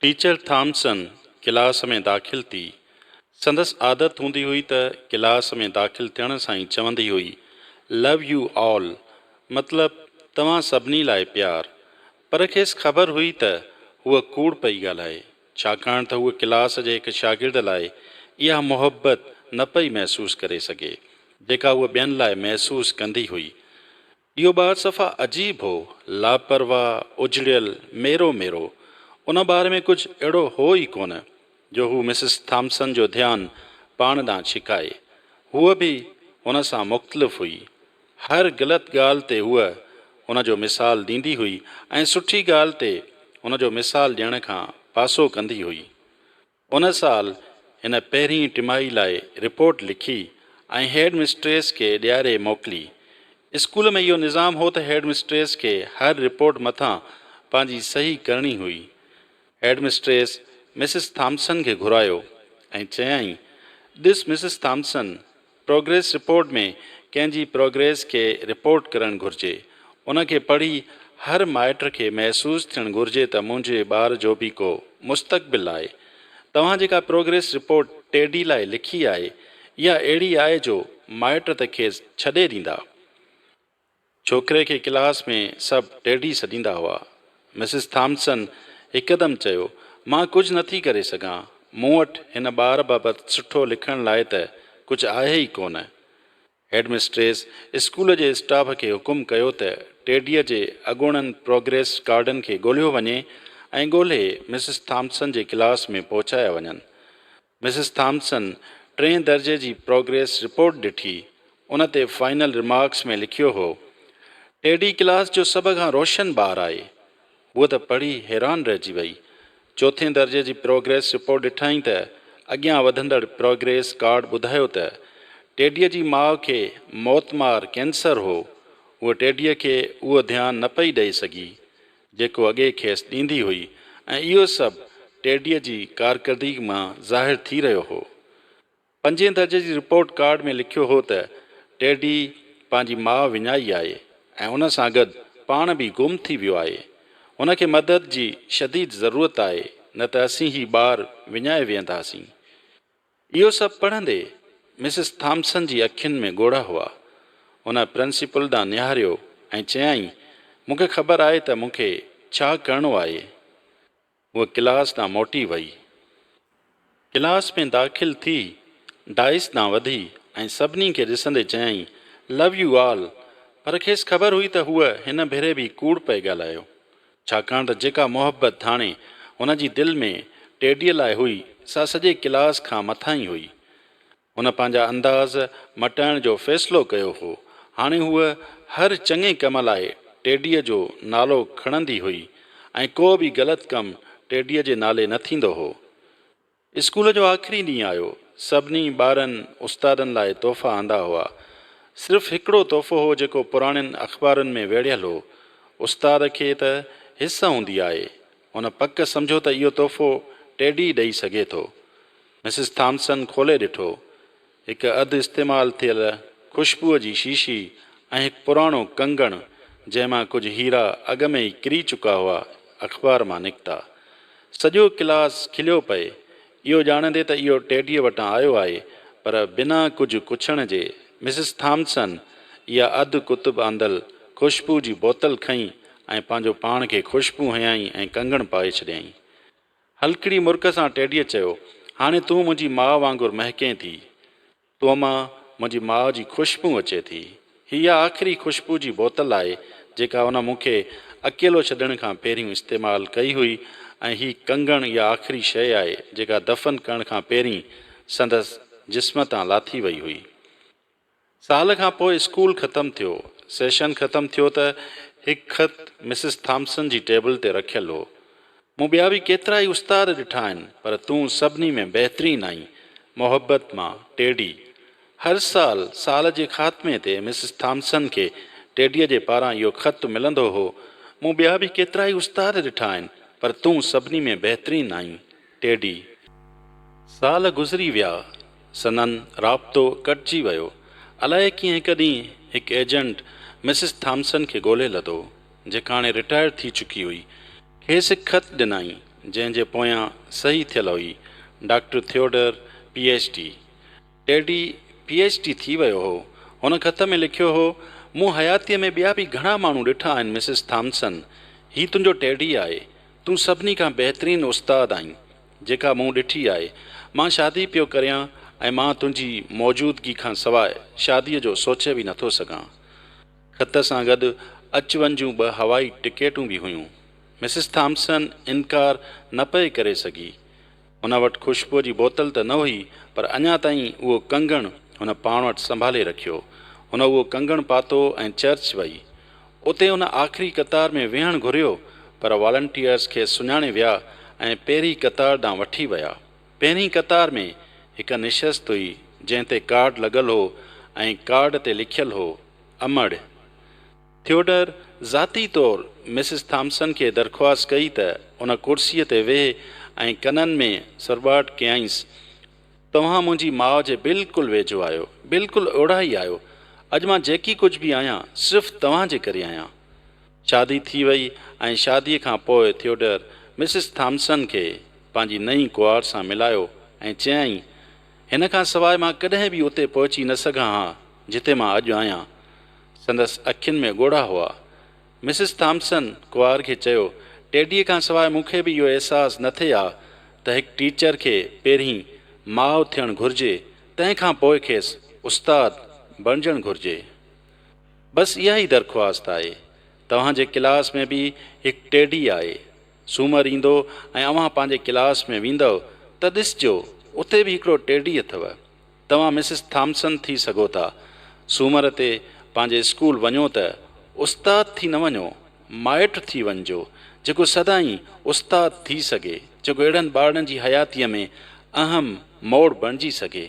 Teacher Thompson class ۾ داخل ٿي. سندس عادت هوندي هئي ته ڪلاس ۾ داخل ٿيڻ سان ئي چوندي هئي، Love you all، مطلب توهان سڀني لاء پيار. پر کيس خبر هئي ته هوء ڪوڙ پئي ڳالهائي، ڇاڪاڻ ته هوء ڪلاس جي هڪ شاگرد لاء اها محبت نه پئي محسوس ڪري سگهي، جيڪا هوء ٻين لاء محسوس ڪندي هئي. اهو ٻار صفا عجيب هو، لاپرواهه، اجڙيل، ميرو ميرو. ان ٻار ۾ ڪجهه اهڙو هو ئي ڪونه، جو هو مسز ٿامسن جو ڌيان پاڻ ڏانهن ڇڪائي. هوء به هن سان مختلف هئي. هر غلط ڳالهه تي هوء ان جو مثال ڏيندي هئي ۽ سٺي ڳالهه تي ان جو مثال ڏيڻ کان پاسو ڪندي هئي. ان سال هن پهرين ٽمائي لاء رپورٽ لکي ۽ هيڊ مسٽريس کي ڏياري موڪلي. اسڪول ۾ اهو نظام هو ته هيڊ مسٽريس کي هر رپورٽ مٿان پنهنجي صحيح ڪرڻي هئي. هيڊ مسٽريس مسز ٿامسن کي گهرايو ۽ چيائين، ڏس مسز ٿامسن، پروگريس رپورٽ ۾ ڪنهن جي پروگريس کي رپورٽ ڪرڻ گهرجي. ان کي پڙهي هر مائٽ کي محسوس ٿيڻ گهرجي ته منهنجي ٻار جو به ڪو مستقبل آهي. توهان جيڪا پروگريس رپورٽ ٽيڊي لاء لکي آهي، اها اهڙي آهي جو مائٽ ته کيس ڇڏي ڏيندا. ڇوڪري کي ڪلاس ۾ سڀ ڊيڊي سڏيندا هئا. مسز ٿامسن هڪدم چيو، مان ڪجهه نه ٿي ڪري سگهان. مون وٽ هن ٻار بابت سٺو لکڻ لاء ته ڪجهه آهي ئي ڪونه. هيڊمسٽريس اسڪول جي اسٽاف کي حڪم ڪيو ته ڊيڊيء جي اڳوڻن پروگريس ڪارڊن کي ڳولهيو وڃي ۽ ڳولهي مسز ٿامسن جي ڪلاس ۾ پهچايا وڃن. مسز ٿامسن ٽئين درجي جي پروگريس رپورٽ ڏٺي، ان تي فائنل رمارڪس ۾ لکيو هو، ٽيڊي ڪلاس جو سڀ کان روشن ٻار آهي. هوء ته پڙهي حيران رهجي وئي. چوٿين درجي جي پروگريس رپورٽ ڏٺائين ته اڳيان وڌندڙ پروگريس ڪارڊ ٻڌايو ته ٽيڊيء جي ماء کي موتمار ڪينسر هو. هوء ٽيڊيء کي اهو ڌيان نه پئي ڏئي سگهي. جيڪو اڳي کيس ڏيندي هئي ۽ اهو سڀ ٽيڊيء جي ڪارڪردگي مان ظاهر ٿي رهيو هو. پنجين درجي جي رپورٽ ڪارڊ ۾ لکيو هو ته ٽيڊي پنهنجي ماء وڃائي آهي ۽ ان سان گڏ پاڻ به گم ٿي ويو آهي. هن کي مدد جي شديد ضرورت آهي نه ته اسين هي ٻار وڃائي ويهنداسين. اهو سڀ پڙهندي مسز ٿامسن جي اکين ۾ ڳوڙها هئا. هن پرنسپل ڏانهن نهاريو ۽ چيائين، مون کي خبر آهي ته مون کي ڇا ڪرڻو آهي. هوء ڪلاس ڏانهن موٽي وئي. ڪلاس ۾ داخل ٿي ڊائس ڏانهن وڌي ۽ سڀني کي ڏسندي چيائين، لو يو آل پر کيس خبر هئي ته هوء هن ڀيري به ڪوڙ پئي ڳالهايو. ڇاڪاڻ ته جيڪا محبت ڌاڻي هن جي دل ۾ ٽيڊيء لاء هئي، سا سڄي ڪلاس کان مٿاهين هئي. هن پنهنجا انداز مٽائڻ جو فيصلو ڪيو هو. هاڻي هوء هر چڱي ڪم لاء ٽيڊيء جو نالو کڻندي هئي ۽ ڪو به غلط ڪم ٽيڊيء جي نالي نه ٿيندو هو. اسڪول جو آخري ڏينهن آيو. سڀني ٻارن استادن لاء تحفا آندا هئا. صرف هڪڙو تحفو هو جيڪو پراڻين اخبارن ۾ ويڙهيل هو. استاد کي ته حس هوندي آهي. هن پڪ سمجهيو ته اهو تحفو ٽيڊي ڏئي سگهي ٿو. مسز ٿامسن کولي ڏٺو. هڪ اڌ استعمال ٿيل خوشبوء جي شيشي ۽ هڪ پراڻو ڪنگڻ جنهن مان ڪجهه هيرا اڳ ۾ ئي ڪري چڪا هئا اخبار مان نڪتا. سڄو ڪلاس کليو پئي اهو ڄاڻندي ته اهو ٽيڊيء وٽان آيو آهي پر بنا ڪجهه ڪڇڻ جي مسز ٿامسن اها اڌ ڪتب آندل خوشبوء جي بوتل کنئي ۽ پنهنجو پاڻ کي خوشبوء هنيائين ۽ ڪنگڻ پائي ڇڏيائين. هلڪڙي مرڪ سان ٽيڊيء چيو، هاڻي تون منهنجي ماء وانگر مهڪين ٿي. تو مان منهنجي ماء جي خوشبو اچي ٿي. هي اها آخري خوشبو جي بوتل آهي، جيڪا هن مون کي اڪيلو ڇڏڻ کان پهريون استعمال ڪئي هئي ۽ هي ڪنگڻ اها آخري شيء آهي، جيڪا دفن ڪرڻ کان پهرين سندس جسم تان لاٿي وئي هئي. سال کان پوء اسڪول ختم ٿيو. سيشن ختم ٿيو ته هڪ خط مسز ٿامسن جي ٽيبل تي رکيل هو. مون ٻيا به ڪيترائي استاد ڏٺا آهن پر تون سڀني ۾ بهترين آهين. محبت مان، ٽيڊي. هر سال، سال جي خاتمي تي مسز ٿامسن کي ٽيڊيء جي پاران اهو خط ملندو هو، مون ٻيا به ڪيترائي استاد ڏٺا آهن پر تون سڀني ۾ بهترين آهين. ٽيڊي، سال گذري ويا، سندن رابطو ڪٽجي ويو. الائي ڪيئن هڪ ڏينهن هڪ ايجنٽ مسز ٿامسن کي ڳولهي لڌو، جيڪا هاڻي رٽائرڊ ٿي چڪي هئي. کيس هڪ خط ڏنائين، جنهن جي پويان صحيح ٿيل هئي، doctor Theodore, P H D. Teddy P H D ٿي ويو هو. هن خط ۾ لکيو هو، مون حياتيء ۾ ٻيا به گهڻا ماڻهو ڏٺا آهن مسز ٿامسن، هي تنهنجو ٽيڊي آهي. تون سڀني کان بهترين استاد آهين، جيڪا مون ڏٺي آهي. مان شادي پيو ڪريان ۽ مان تنهنجي موجودگي کان سواء شاديء جو سوچي به نٿو سگهان. خط سان گڏ اچ وڃ جون ٻه هوائي ٽڪيٽون به هيون. مسز ٿامسن انڪار نه پئي ڪري سگهي. هن وٽ خوشبوء جي بوتل ته نه هئي، پر اڃا تائين اهو ڪنگڻ هن پاڻ وٽ سنڀالي رکيو. هن اهو ڪنگڻ پاتو ۽ چرچ وئي. اتي هن آخري قطار ۾ ويهڻ گهريو، پر والنٽيئرز کيس سڃاڻي ويا ۽ پهرين قطار ڏانهن وٺي ويا. پهرين قطار ۾ هڪ نشست هئي، جنهن تي ڪارڊ لڳل هو ۽ ڪارڊ تي لکيل هو، امڙ! ٿيوڊر ذاتي طور مسز ٿامسن کي درخواست ڪئي ته ان ڪرسيء تي ويهه ۽ ڪنن ۾ سرٻاٽ ڪيائينس، توهان منهنجي ماء جي بلڪل ويجهو آهيو، بلڪل اوڙها ئي آهيو. اڄ مان جيڪي ڪجهه به آهيان، صرف توهان جي ڪري آهيان. شادي ٿي وئي ۽ شاديء کان پوء ٿيوڊر مسز ٿامسن کي پنهنجي نئين ڪئوار سان ملايو ۽ چيائين، هن کان سواء مان ڪڏهن به اتي پهچي نه سگهان ها، جتي مان اڄ آهيان. سندس اکين ۾ ڳوڙها هئا. مسز ٿامسن ڪوار کي چيو، ٽيڊيء کان سواء مون کي به اهو احساس نه ٿئي ها ته هڪ ٽيچر کي پهرين ماء ٿيڻ گهرجي، تنهن کان پوء کيس استاد بڻجڻ گهرجي. بس اها ئي درخواست آهي. توهان جي ڪلاس ۾ به هڪ ٽيڊي آهي. سومر ايندو ۽ اوهان پنهنجي ڪلاس ۾ ويندؤ ته ڏسجو اتي به هڪڙو ٽيڊي اٿو. توهان مسز ٿامسن ٿي سگهو ٿا. سومر تي پنهنجي اسڪول وڃو ته استاد ٿي نه وڃو، مائٽ ٿي وڃجو، جيڪو سدائين استاد ٿي سگهي، جيڪو اهڙن ٻارڙن جي حياتيء ۾ اهم موڙ بڻجي سگهي.